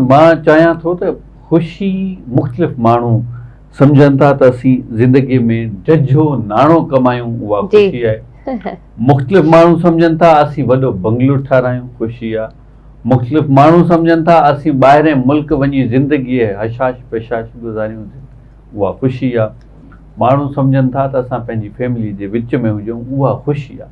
مان چاهيان ٿو ته خوشي مختلف ماڻهو سمجهن ٿا ته اسين زندگي ۾ ججهو ناڻو ڪمايون اها خوشي آهي. مختلف ماڻهو سمجهن ٿا اسين وڏو بنگلو ٺارايون خوشي آهي. مختلف ماڻهو سمجهن ٿا اسين ٻاهرين ملڪ وڃي زندگي هشاش پشاش گذاريون اها خوشي آهي. ماڻهو سمجهن ٿا ته اسان پنهنجي فيملي جي وچ ۾ هجون اها خوشي آهي.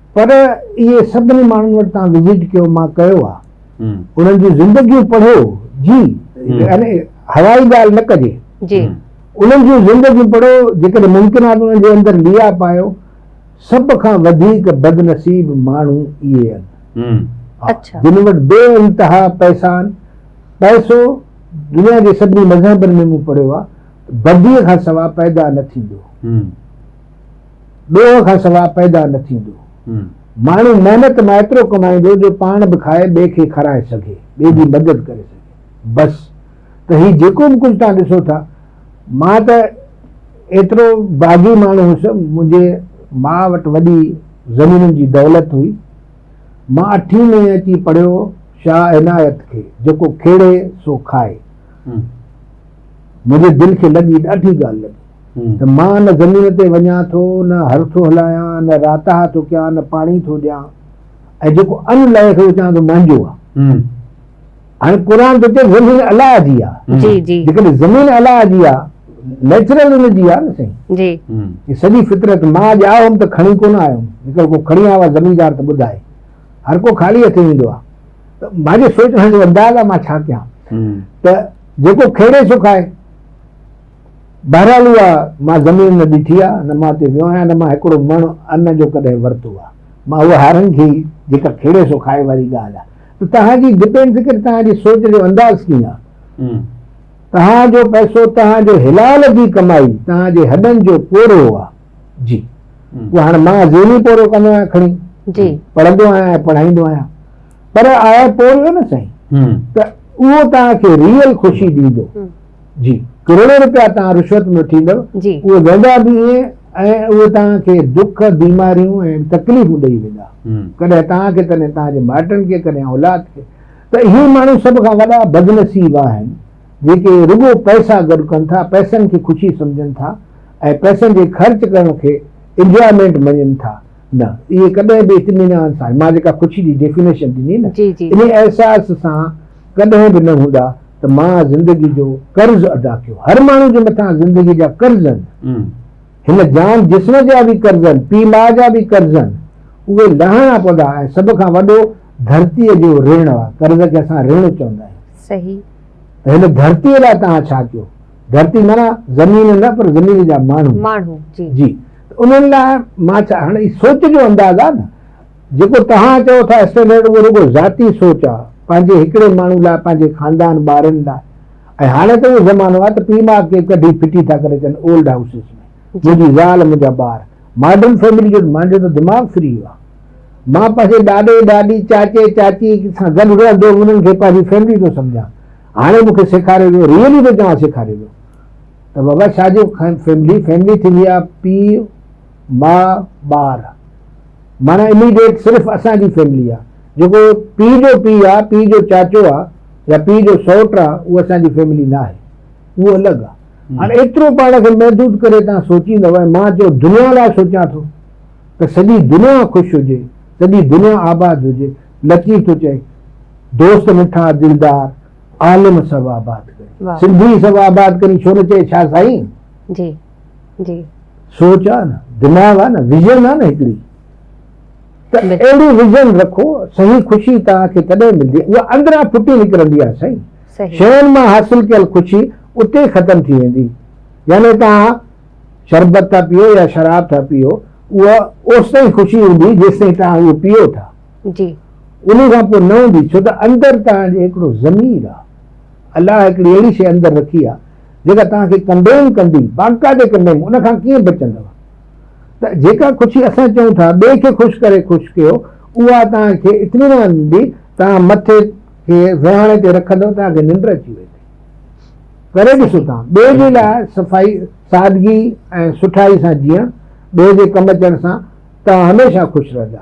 پر اهي سڀني ماڻهن وٽ تان وزٽ ڪيو مان ڪيو آ انهن جون زندگيون پڙهيو جي يعني هوائي ڳالهه نه ڪجي جي انهن جون زندگيون پڙهو جيڪڏهن ممڪن آ ته انهن جي اندر ليا پايو سڀ کان وڌيڪ بدنصيب ماڻهو اهي آهن اڇا جن وٽ بي انتها پئسا آهن پئسو دنيا جي سڀني مذهبن ۾ مون پڙهيو آ بدي کان سوا پيدا نه ٿيندو ڏوهه کان سواء پيدا نه ٿيندو. ماڻهو محنت مان ايترو ڪمائيندو جو پاڻ به کائي ٻئي کي کارائي سگهي، ٻئي جي مدد ڪري سگهي. بس ته هي جيڪو به ڪجهه توهان ڏسو ٿا، مان ته ايترو باغي ماڻهو هوس، منهنجي ماء وٽ وڏي زمينن جي دولت هئي. مان اٺين ۾ اچي پڙهيو شاهه عنايت کي، جيڪو کيڙي سو کائي. منهنجي دل کي لڳي ڏاڍي ڳالهه لڳي. ته مان نه زمين تي وڃان ٿو، نه هر ٿو هلايان، نه راتاها ٿو ڪيان، نه پاڻي ٿو ڏيان ۽ جيڪو ان لئي کي اچان ٿو منهنجو آ. هاڻي قرآن ٿو چئي زمين الله جي آ. جيڪڏهن زمين الله جي آ نيچرل ان جي آ نه سائين. هي سڄي فطرت مان اڄ آيو هوم ته کڻي ڪونه آيو هوم جيڪر ڪو کڻي آيو آ زميندار ته ٻڌائي هر ڪو خالي هٿين ايندو آ ته مانجي سوچڻ جو انداز آ مان ڇا ڪيان ته جيڪو کيڙي سو کائي. بهرحال اها مان زمين نه ڏٺي آ، نه مان اتي ويو آهيان، نه مان هڪڙو مڻ ان جو ڪڏهن ورتو آ. مان اها هارن کي ئي جيڪا کيڙي سو کائي واري ڳالهه آ. ته توهان جي ڊپين فڪر توهان جي سوچ جو انداز ڪيئن آ؟ توهان جو پئسو توهان جو حلال جي ڪمائي توهان جي هڏن جو پورهيو آ. جي اهو هاڻ مان ذهني پورهيو ڪندو آهيان کڻي جي پڙهندو آهيان ۽ پڙهائيندو آهيان. پر آء پورهيو نه سائين ته اهو توهان کي ريئل خوشي ڏيندو. جي ڪروڙين روپيا توهان رشوت ۾ وٺيندؤ اهي ويندا به ائين ۽ اهي توهان کي دک بيماريون ۽ تڪليفون ڏئي ويندا ڪڏهن توهان کي ڪڏهن توهان جي مائٽن کي ڪڏهن اولاد کي ته اهي ماڻهو سڀ کان وڏا بدنصيب آهن جيڪي رڳو پئسا گڏ ڪن ٿا پئسن کي خوشي سمجهن ٿا ۽ پئسن جي خرچ ڪرڻ کي انجوائمينٽ مڃين ٿا نه اهي ڪڏهن به اطمينان سان مان جيڪا خوشي جي ڊيفينيشن ڏني نه انهي احساس سان ڪڏهن به نه هوندا ته مان زندگي جو قرض ادا ڪيو هر ماڻهو جي مٿان زندگي جا قرض آهن هن جان جسم جا به قرض آهن پي ماء جا به قرض آهن اهي لاهڻا پوندا ۽ سڀ کان وڏو ڌرتي جو رڻ آهي قرض کي اسان رڻ چوندا آهيون صحيح ته هن ڌرتي لاء توهان ڇا ڪيو ڌرتي معنيٰ زمين نه پر زمين جا ماڻهو ماڻهو جي جي انهن لاء مان ڇا هاڻي هي سوچ جو انداز آهي نه جيڪو توهان چئو ٿا اسٽينڊرڊ اهو رڳو ذاتي سوچ آهي پنهنجي هڪڙي ماڻهو لاء پنهنجي خاندان ٻارن لاء ۽ هاڻي ته اهو زمانو آهي ته پيء ماء کي ڪڍي ڦٽي ٿا ڪري اچن اولڊ هائوسز ۾ منهنجي زال منهنجا ٻار ماڊرن فيملي جو مانجو ته دماغ فري ويو آهي مان پنهنجي ڏاڏي ڏاڏي چاچي چاچي سان گڏ رهندو هوم انهن کي پنهنجي فيملي ٿو سمجهان هاڻي مون کي سيکاريو ويو ريئلي ٿو چوان سيکاريو ويو ته بابا شاهه جو فيملي فيملي ٿيندي آهي پي ماء ٻار مانا اميڊيٽ صرف اسان جي فيملي آهي جيڪو پي جو پي آهي پي جو چاچو آهي يا پي جو سوٽ آهي اهو اسان جي فيملي نه آهي اهو الڳ آهي هاڻي ايترو پاڻ کي محدود ڪري تان سوچيندو آهي مان جو دنيا لاء سوچان ٿو ته سڄي دنيا خوش هجي سڄي دنيا آباد هجي لطيف ٿو چئي دوست مٺا دلدار عالم سڀ آباد ڪري سنڌي سڀ آباد ڪري ڇو نه چئي ڇا سائين جي جي سوچ آ نه دماغ آ نه ويزن آ نه هڪڙي ته اهڙي ويزن رکو صحيح خوشي توهان کي تڏهن ملندي اها اندران ڦٽي نڪرندي آ سائين شين مان حاصل ڪيل خوشي اتي ختم ٿي ويندي يعني توهان شربت ٿا پيئو يا شراب ٿا پيئو اها اوستائين خوشي هوندي جيستائين توهان اهو پيئو ٿا جي. انهي کان پوء نه هوندي ڇو ته اندر توهان جي هڪڙو ضمير آهي. الله هڪڙي اهڙي شيء اندر رکي آهي جيڪا توهان کي ڪنڊيم ڪندي، باقاعدي ڪنڊيم، ان کان ڪيئن بچندؤ؟ ته جيڪا خوشي اسان چئون ٿا ٻئي کي خوش ڪري خوش ڪيو اها توهان کي اطمينان ڏيندي، توهان مٿي کي ويهاڻي تي رکندؤ توهان کي ننڊ اچي ويندي. ڪري ڏسو توهان ٻئي جي لاء صفائي، سادگي ۽ سٺائي سان جيئڻ، ٻئي جي ڪم اچڻ سان توهان هميشه خوش رهندا.